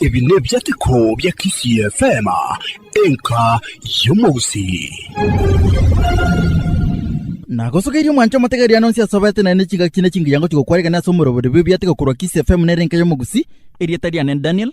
Ebi nebiateko bia Kisii FM, enka y'omogusii. Nagosogeirie omwancho omotegeria nonsi asobete naye ne chingaki ne chingiya ngochi gokwarigania ase omorobori bw'ebiateko korwa Kisii FM nere enka y'omogusii. Erieta riane Daniel.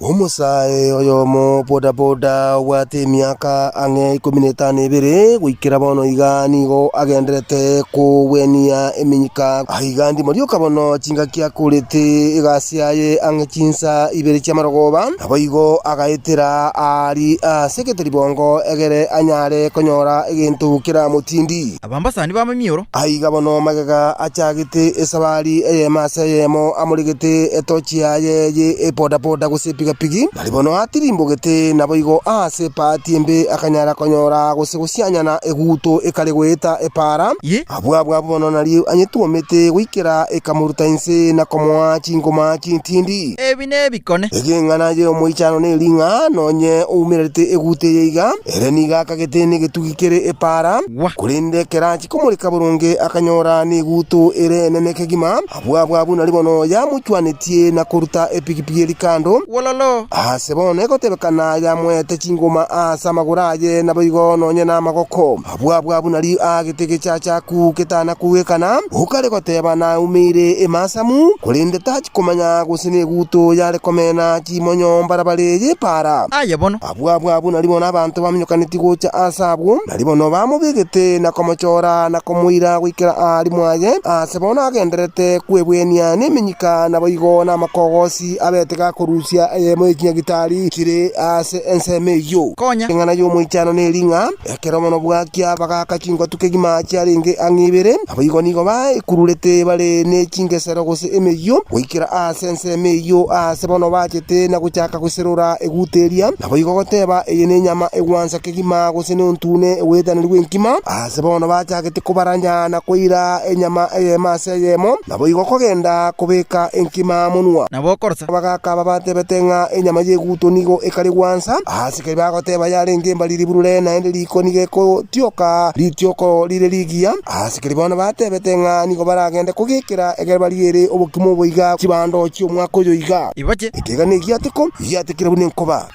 Omosae oyomo bodaboda obwate emiaka ang'e ikomi na etano ebere goikera bono iga nigo agendererete kogwenia eminyika. Aiga ndimo rioka bono chingaki akorete egasi yaye ang'e chinsa ibere chi'amarogoba. Naboigo agaetera aari ase egete ribongo egere anyare konyora egento keramotindi. abambasani b'amamioro. Aiga bono magega achagete esabari eyemo ase eyemo amoregete etochi yaye ye epodapoda gose epigapigi. Nari bono atirimbogete naboigo aase epaati embe akanyara konyora gose gosianyana eguto ekare goeta epaara. Abwo abwo abwo bono nari anyetwomete goikera ekamoruta inse na komoa chingoma chintindi. Ebi nebikone. Egeng'ana y'omoichano neri ng'a nonye oumererete eguto eye iga, ere nigo akagete negetugi. kere epaara, korende kerachia komoreka boronge akanyora neguto ere enene kegima, abwo abwo abwo nari bono yamochwanetie na koruta epigipigi eria kando, wololo, aase bono egotebekana yamoete chingoma aase amagoro aye naboigo nonye namagoko, abwo abwo abwo nari aagete egechachaku getana kogwekana, okare goteba naumeire emasamu, korende tachia komanya gose neguto yare komena chimonyo mbarabara eye epaara. Aye bono. Abwo abwo abwo naribono nabaanto baminyokaneti gocha aase agwo, naribono bamobegete na komochora na komoira goikera aa arimo aye, aase bono agendererete kwebwenia nemenyika naboigo namakogosi abete gakorusia eyemo ye chinyagitari chire aase ensemo eyio. Konya, eng'ana y'Omoichano neri ng'a. Ekero bono bwakia bagaaka chingotu kegima chiarenge ang'e ibere. Naboigo nigo baekururete bare ne chingesero gose emeyio, goikera aase ensemo eyio aase bono bachete na gochaka goserora eguta eria, naboigo goteba, Eye nenyama egwansa kegima, gose nontune oboyetaneru bw'enkima. Aase bono bachagete kobaranya na koira enyama eyemo ase eyemo, naboigo kogenda kobeka enkima monwa. Nabo okorosa. Abagaaka aba batebete ng'a enyama y'eguto nigo ekare gwansa aase. Ekero bagoteba yarenge embariri burore naende rikoni gegotioka ritioko rire rigiya, abasikire bono batebete ng'a nigo baragende kogekera ekero bariere obokima oboiga chibando chi'omwaka oyo iga. Ekeegano egiateko, egiatekire buna enkoba.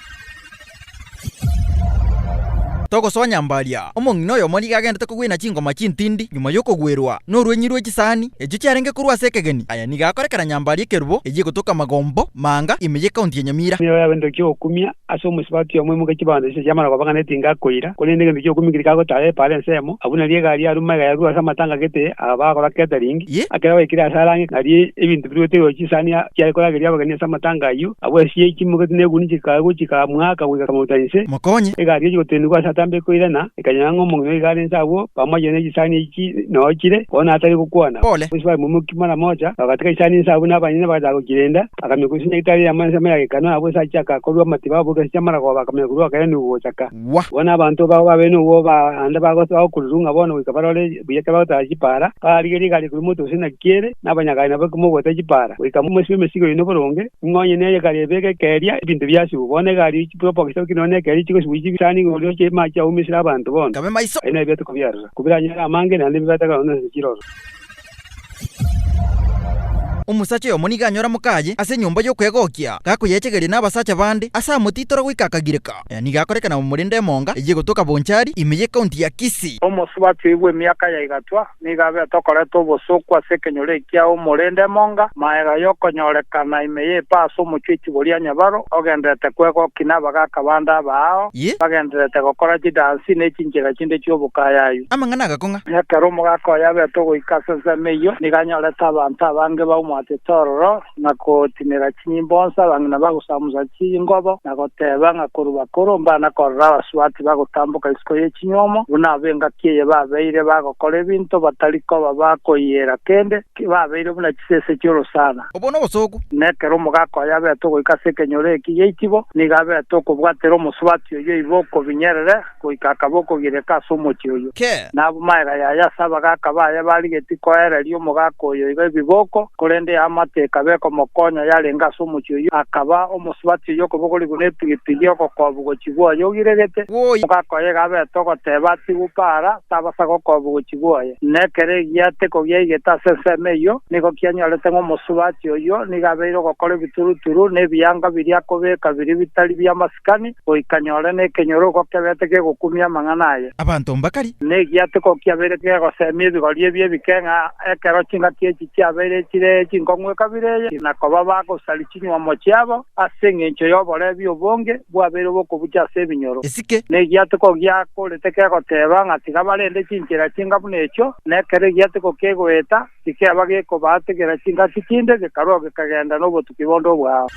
Togosoa nyambaria, omong'ina oyomo nigo agenderete kogwena chingoma chintindi nyuma y'okogwerwa norwenyi rwe chisani echio chiarenge korwa ase ekegeni. Aya nigo akorekana nyambaria ekerubo eyio egotoka Magombo, Maanga, ime y'Ekaunti ya Nyamira. Nigo yabete eki'okumia Ase omosibati oyomo emokia chibando chise chiamara koba ng'a netinga akoira, korende egento ki'okumia keri kagotara epaara ensemo, abwo nario egari ya ruma egayerurwa ase amatanga gete aba bagakora catering, ekero baikire ase arang'e nario ebinto biruete igoro chisani chiare korageria abageni ase amatanga ayio, abwo esio yaitimoketie na eguni chikaya gochika mwaka goika kamauta inse. Mokonye. Egari echi gotenigwa ase atambe ekoirana, ekanyora ng'a omong'ina oiga are inse agwo, pamoja ne chisani echi noo chire, bono atari gokwana. Pole. Omosibati momokia mara mocha, bagatika chisani inse abwo na abanyene bagachaka gochirenda. Akamenya korisia na ritari riamo ensemo ya gekanwa yabo ase achiaka korua amatiba aboke ase chiamaragoba bakamenya korua gokera nigo gochaka. Gwa. Bono abanto babo babeire nobwo ba ande bagosa bagokururwa ng'a bono goika barore buya ekero bagotara chipaara, barigerie egari ekorua moto gose naki ere, na abanyagari nabo ekemo ogwata chipaara, goika momoisibe emesigo yaino boronge, ng'a onye ne egari ebeke ekeria ebinto biasibwa, bono egari ya chipropo gose oki nonye ne ekeria chigosibwa chie chisani igoro riochia amache aumia esira abanto bono, Kabe maiso. Aye nebia tokobiarora, kobiranyare amange naende bibateka nonya ase chiroro. Omosacha oyomo nigo anyora mokaye ase enyomba y'okwegokia, gakoyechegeria nabasacha bande, ase amotitora goika akagireka. Aya nigo akoreka na omorende emonga eyio egotoka Bonchari, ime y'ecounty ya Kisii. Omosubati bw'emiaka ya Igatwa nigo abete okoreta obosooku ase ekenyoreri kia omorende emonga, maega y'okonyorekana ime y'epa ase omochie echiboria nyabaro, ogenderete kwegokia nabagaaka bande abaao, bagenderete gokora chidansi ne chinchera chinde chi'obokayayu. Amang'ana agakong'a. Ekero omogaka oye abete ogoika ase ensemo eyio, nigo anyorete abanto abange baumwatete ororo, na kotinera chinyimbo onsi, abang'ina bagosamusa chingobo, na goteba ng'a korwa bakoro mbana korora abasubati bagotamboka isiko ye chinyuomo, buna ab'engaki eye babeire bagokora ebinto batari koba ba koiyera kende, babeire buna chisese chi'orosana. Obwo nobosooku. Na ekero omogaka oye abete ogoika ase ekenyoro eki gi'eitibo, nigo abete okobwatera omosubati oyio oibe okobinyerere. goika akaba okogireka ase omochie oyio. Kee. Na abwo magega yaye ase abagaaka baye barigetie koereria omogaaka oyo iga ebiboko, korende eamate ekaba ekomokonya yarenge ase omochie oyio, akaba omosubati oyio okobogori buna epigipigi, ogokobu gochigwa oye ogiregete. Omogaaka oye iga abete ogoteba, Atigwe paara, tabasaga okobu gochigwa oye. Na ekero egiate kogiaigete ase ensemo eyio, nigo kianyorete ng'a omosubati oyio nigo abeire ogokora ebituruturu, na ebianga biria akobeka biria bitari bi'amasiga. Abakuutikani, goika nyore nekenyoorogo kebete kegokumia amang'ana aye. Abanto mbakari. Negiatiko kiabeire kegoseemia ebigori ebi ebike ng'a ekero chingaki echi chiabeire chire chinkong'u ekabira eye, na koba bagosaria chinyuomo chiabo ase engencho y'oborebi obonge bwabeire obokobucha ase ebinyoro. Esike. Negiatiko giakorete kegoteeba ng'a tiga barende chinchera chinga buna echio, na ekero egiatiko kegoeta, Tikeba gekobaategera chingaki chinde, gekarua gekagenda nobotuki bonde obwao.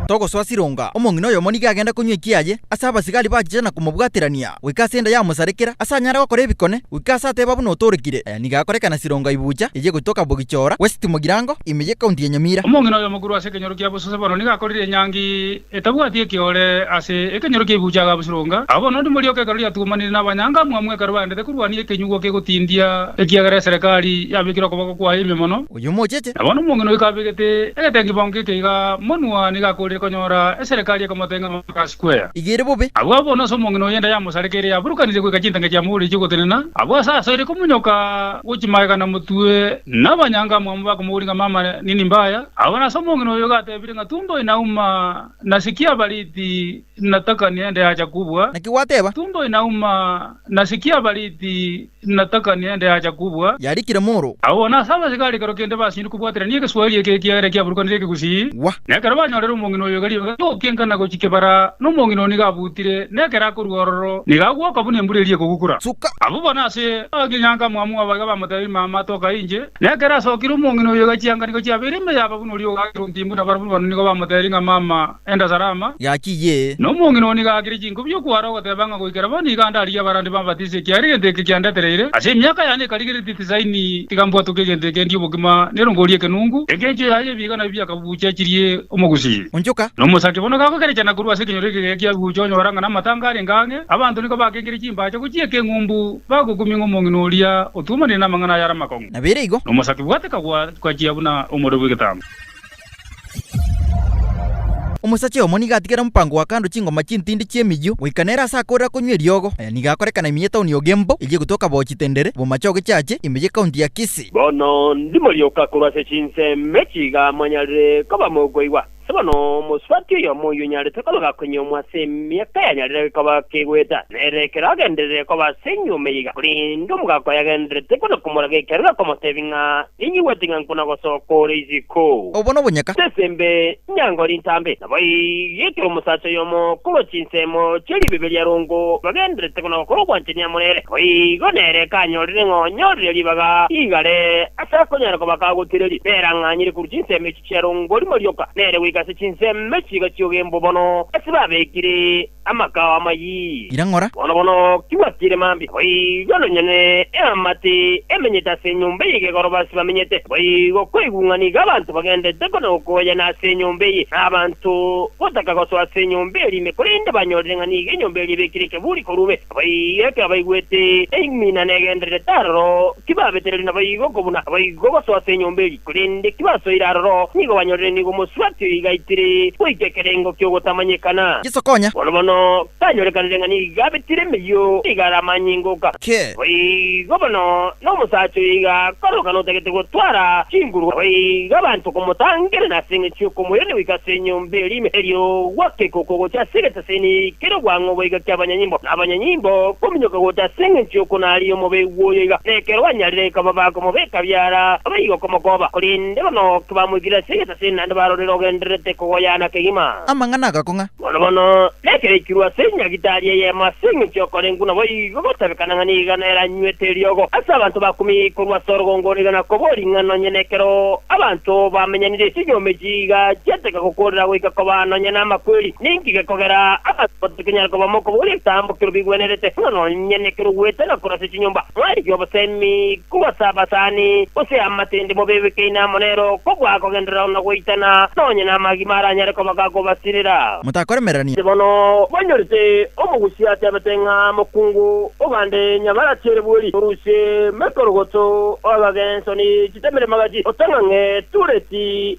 Togosoa Sironga, omong'ina oyomo nigo agenda konywa ekiaye ase abasigari bachiche na komobwaterania goika ase enda yamosarekera, ase anyare gokora ebikone, goika ase ateba buna otoorekire. Aya nigo akorekana Sironga Ibucha eye gotoka Bogichora, West Mogirango, ime ye County ya Nyamira. Omong'ina oyomo korwa ase ekenyoro kia bosose bono nigo akorire enyangi Etabwati ekiore ase ekenyoro ki'ebibuucha agabusuronga. Abwo nonya ndimorioka ekero riatugumanire nabanyanga amwamu ekero baendete korwania ekenyugwa kegotindia ekiagera eserekari yabekire okoboko kwaye ime mono. Oyio mochete. Na bono omong'ina oyo kabegete egetengibongo geke iga monwa nigo akoorire konyora eserekari ekomoteng'ena omotwe ase square. Iga ere bobe. Abwo abwo nase omong'ina oyo enda yamosareka ere yaburukanire goika chintanga chiamogoretie ogotenena, abwo ase aso ere komonyoka gochia magega na motwe, nabanyanga amwamu bakomogoria ng'a mama nini mbaya. Abwo nase omong'ina oyo gatebirie. Natumbo inauma, nasikia abariti, natakania ende acha kubua. Naki gwateba? Natumbo inauma, nasikia abariti, natakania ende acha kubua. Yarikire moro. Agwo nase abasege arekero kende basinyire kobwaterania egeswahili eke ekiagera kiaburukanire ekegusii. Gwa. Na ekero banyorire omong'ina oyo igari iga gokienka na gochia kebara, na omong'ina oo nigo abutire, na ekero akorua ororo, nigo agwoka buna embura eria ekogukura. Suka. Abwo bono ase akinyanka mwamua baiga bamotebi, Mama, toka inche. Na ekero asokire omong'ina oyio egachia eanganiko chiabeire ime yaba buna oria ogaakire ontiimbo buna barabwo bane nigo bamotebirie ng'a mama enda salama. Gaki ye. Na omong'ina oo nigo aakire chinko bi'o kwara ogoteba ng'a goikera bono iga ndarigie abarandi bambatise ekiagera egento eke kiandetereire ase emiaka yane ekarigeretie tisaini tiga mbwatwe kegento eke ndie obogima nero ngorie ekenungu eke enchio yaye ebiiga nabio biakabuucha chirie omogusii Onchoka. Na omosake bono gagokerechana korwa ase ekenyoro eke geke kiabuucha onyora ng'a namatanga arenge ang'e abanto nigo bakengire chimbacha gochia eke eng'umbu Bagokumia ng'a omong'ina oria otwomanire namang'ana aya are amakong'u. Nabeire igo. Nomosake bwate kagwachia buna omore bw'egetambe. Omosacha oyomo nigo atigere omopango wa kando chingoma chintindi chi'emiyio, goika nere ase akorera konywa eriogo. Aya nigo akorekana ime y'etaoni y'Ogembo, eyio egotoka bo Chitendere, bomache ogechache, ime y'ekaunti ya Kisii. Bono ndimorioka korwa ase chinsemo echi iga mwanyarire koba mokoigwa. Ase bono omosubati oyomo oyio onyarete koba gakonyiomwa ase emiaka yanyarire koba kegoeta, na ere ekero agenderere koba ase enyuoma eye iga, korende omogaka oye agendererete kona komoraga ekero gakomotebia ng'a, Ninyiigwete ng'a nkona gosoka ore isiko. Obo nobonyaka. Ase esembe nyango rintambe. Naboigo ekero omosacha oyomo korwa chinsemo chia ribeberia arongo, bagendererete kona gokora obwanchani amo nere, naboigo nere ekanyorire ng'a onyorire ribaga igare ase akonyara koba kagotireria, nerang'anyire korwa chinsemo echi. chiarongori morioka, nere goika ase chinseme chiga chi'ogembo bono ase babekire amakao amayie. Ira ng'ora. Bono bono tibwatiire mambia, boigo nonyene eamate emenyete ase enyomba eye igegoroba ase bamenyete, boigo koigung'ana iga abanto bagendete kona gokoyana ase enyomba eye, na abanto gotaka gosoa ase enyomba eria ime, korende banyorire ng'a nigo enyomba eria ebekire ekeburi korwa ime. Abaiyeke abaigwete eimina negendererete aroro, tibabetereri naboigo kobuna naboigo gosoa ase enyomba eria, korende tibasoire aroro, nigo banyorire nigo omosubati oyo igaitire goika ekerengo ki'ogotamanyekana. Yeso konya. Bono bono kanyorekanire ng'a nigo abetire emeyio, nigo are amanyinga goka. Ki. Naboigo bono nomosacha oyo iga akoroka notagete gotwara chinguru, naboigo abanto komotangerana ase eng'encho y'okomoirania goika ase enyomba eria ime, erio gwakeka okogocha ase egetanda. Ase nikere obwango goika ki abanyanyimbo na abanyanyimbo kominyoka gocha ase engencho y'okonaria omobee bw'oyo iga, na ekero banyarire ekaba bakomobeka biara abe igo komokoba, korende bono kebamoikire ase egesase naende barorire ogendererete kogoyana kegima. Amang'ana agakong'a. Bono bono, nekero aikirwe ase enyagitari eyemo ase engencho y'okorengwa naboigo gotabekana ng'a nigo nere anywete eriogo, ase abanto bakumia korwa ase orogongo nigo nakoboria ng'a nonye nekero abanto bamenyanire chinyume chiiga chiateka gokoorera goika koba nonye namakweri. Ninki gekogera abanto batakenyara koba mokobora ekitambo ekero bigwenerete, ng'a nonye nekero ogwete na korasa chinyomba, mwarigia obosemi, kogasa abasani, gose amatende mobebekaine amo nero, kobua kogenderera na goitana, nonye namagima aranyare koba gakobasirera? Motakoremererania. Inche bono mbanyorete omogusi atebete ng'a mokungu ogande nyabarachi ere bweri, orusie mekorogoto, oagagenso ne chitemeremagachi, otang'ang'e tureti,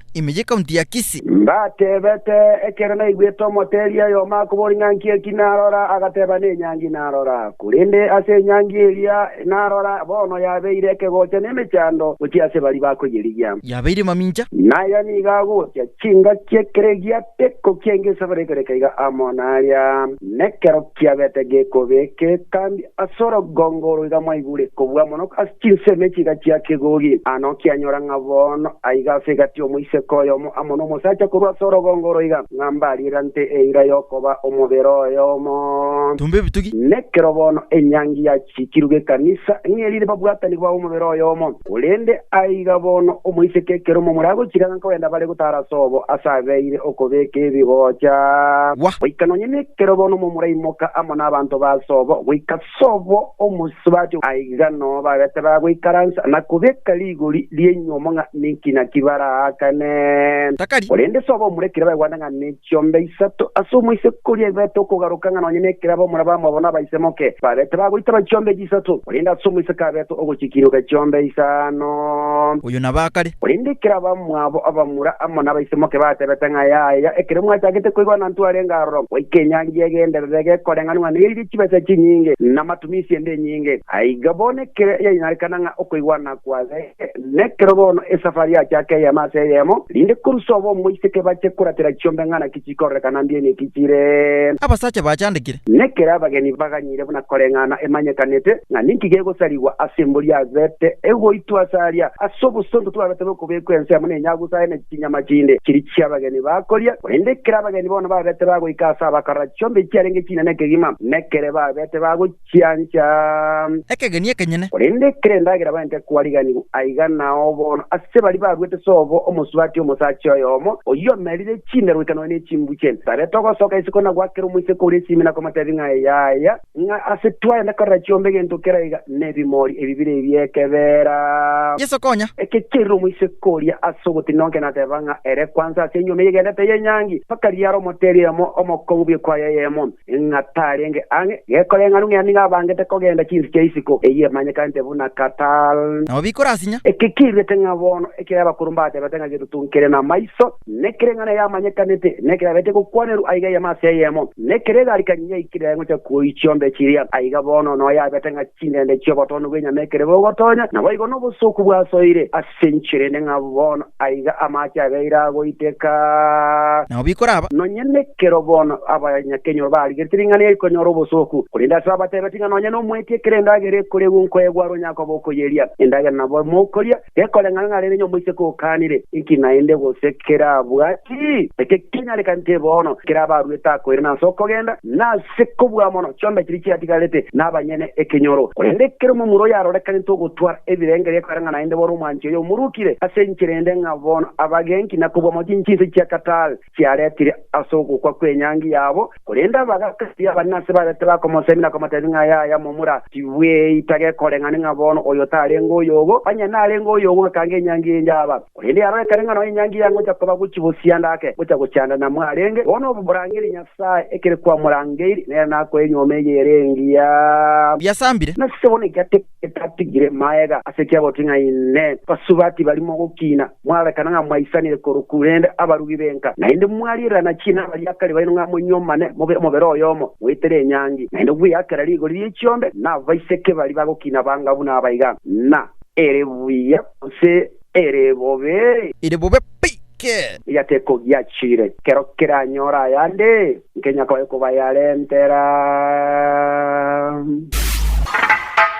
ime y'ekaunti ya Kisii. Mbateebete, ekero naigwete omoteeri oyomo akobora ing'anki eki narora, agateba nenyangi narora, korende ase enyangi eria narora, bono yabeire ekegocha nemechando gochia ase baria bakoyerigia. Yabeire mamincha. Naye nigo agocha chingaki ekero egiato ekokia engecho bare ekoreka iga amo naria, nekero. Kiagete gekobe ekekambi as'orogongo roiga mwaigure kobua mono as chinsemo echiga chia kegogi. Ano kianyora ng'a bono aiga as egati omoiseke oyomo amo nomosacha korwa as'orogongo roiga, ng'a mbariera nte eira yokoba omobere oyomo. Tumba ebitugi. Nekero bono enyangi ya. Chikiru gekanisa ng'iri rire babwatani ba omobere oyomo. Korende aiga bono omoiseke ekero omomura agochiranga nkogenda bare gotara ase obo ase abeire okobeka ebigocha. Goika nonya nekero bono omomura aimoka amo nabanto ba ase obo goika ase obo omosubati, aiga noo bagete bagoikaransa na kobeka rigori ri'enyuomo ng'a ninki naki baraakane. Korende ase obo omura ekero baigwete ng'a ninki. chionda isato ase omoisakoria eberete okogaroka ng'a nonya nekera abamura bamwabo nabaisemoke baberete bagoitaba chionda echi isato, korende ase omoiseke aberete ogochikinuka chionda isano. Oyio naba kare. Korende ekero abamwabo abamura amo nabaisemoke batebete ng'a yaya, ekero mwachagete koigwa ng'a Ntwari arenge aroro, goika enyangi egenderere gekoreng'anigwa neriria chibesa chinyinge, na matumisi ende enyinge, aiga bono ekero yainarekana ng'a okoigwa nakwabe, Nekero bono esafari yachaka eyemo ase eyemo, rinde korwa sobo omoiseke bache koratera chiombe ng'a naki chikororeka na mbiaini eki chire. Abasacha bachandekire. Nekero abageni baganyire buna koreng'ana emanyekanete, ng'a ninki gegosarigwa ase embori yabete egoitwa ase aria, ase obosonto twabete bokobekwa ensemo na enyagusu aye na chinyama chinde chiria chi'abageni bakoria. Korende ekero abageni bono babete bagoika ase abakarora chiombe echiarenge chinene kegima, nekere babete bagochia. chiancha. Ekegeni ekenyene. Korende kera endagera baente kwariganigwa, aiga nao bono ase baria baruete sobo omosubati omosacha oyomo, oyio omerire chinda goikanwa ne chimbu chi'ente. Tarete ogosoka isiko na goakera omoiseke oria esimi na komotebia ng'a yaya, ng'a ase twayenda korera chiombe egento kera iga nebimori ebibire ebi'ekebeera. Yeso konya. Ekecherire omoiseke oria ase ogotinda onke nateba ng'a ere kwansa ase enyuoma eyegendete y'enyangi, mpaka riare omoteri oyomo omokongu bw'ekwaya eyemo. ng'a tarenge ang'e, gekoreng'ana ng'a nigo abangete kogenda chinse chia isiko eyio emanyekanete buna Katal. Nabo bikorasinya. Eke kiruete ng'a bono ekero abakoro mbatebete ng'a getutungikere namaiso, nekereng'ana eye amanyekanete, nekero abete gokwanerwa aiga eyemo ase eyemo, nekero egarikani yaikire ngocha kuoi chiombe chiria, aiga bono noyo abete ng'a chindende chi'obotono bw'enyama ekero bogotonya, naboigo nobosooku bwasoire ase Sinchirende ng'a bono aiga amache abeire agoiteka. Nao bikoraba. Nonya nekero bono abanyakenyoro barigeretie ring'ana eri konyora obosooku, korende ase abateebeti ng'a nonya nomoetie ekero endagera ekoregwe nkoegwa are onyakoba okoyeria, endagera nabo mokoria gekoreng'ana ng'a rero ny'omoiseke okaanire, inki naende gose kera abwati? Eke kinyare kante bono, kera abaruete akoirana ase okogenda, na. Ase kobua mono, chionda chiria chiatigarete nabanyene ekenyoro. Korende ekero omomura oyarorekanete ogotwara ebirengererio ekoreng'a naende bono omwanchi oye omorukire ase enchera ende ng'a bono abagenki na kobua mono chinchinsa chia Qatar chiaretire ase ogokwa kw'enyangi yabo, korende abagaka baria abanene ase barete bakomosemia na komotebia ng'a yaya momura, tibweita gekoreng'ana ng'a bono oyo tarenge oyogo, onye narenge oyogo, ekanga enyangi enjaba. Korende aro ekero eng'ana y'enyangi yangocha koba gochia gosianda ake ngocha gochandana mwarenge, bono morangerie Nyasae ekere kwamorangeiri, nere nakoe enyuoma eye ere engiya. Biasambire. Nase bono ekiategete atigire magega ase ekiagotwe ng'a Inee! Basubati barimo gokina, mwararekana ng'a mwaisanire korokw rende abarugi b'enka, naende mwariererana chiina abariakari baino ng'a monyuomane mobe omobere oyomo, moetere enyangi, naende gweyakera rigori rie chiombe nabaiseke baria bagokina banga buna abaiga, na ere buya. gose ere bobe? Ere bobe pi ki? Eria tekogiachire, kero keranyore ayande, nkenya koye kobayarentera.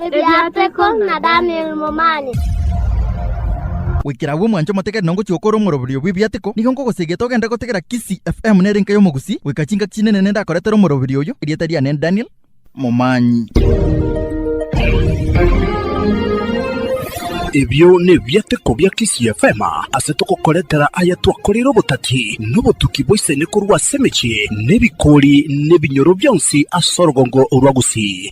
Ebiateko na Daniel Momani. Goikera agwo mwanche omotegereri na ngochia gokora omoroberio bw'ebiateko, nigo nkogosegeta ogende gotegera Kisii FM nere enka y'Omogusii, goika chingaki chinene nende akoretera omoroberio oyio, erieta riane Daniel, momanyi. Ebio nebiateko bia Kisii FM ase togokoretera aya twakoreire obotati na obotuki bwa isani korwa ase emechie na ebikori na ebinyoro bionsi ase orogongo rwa Gusii.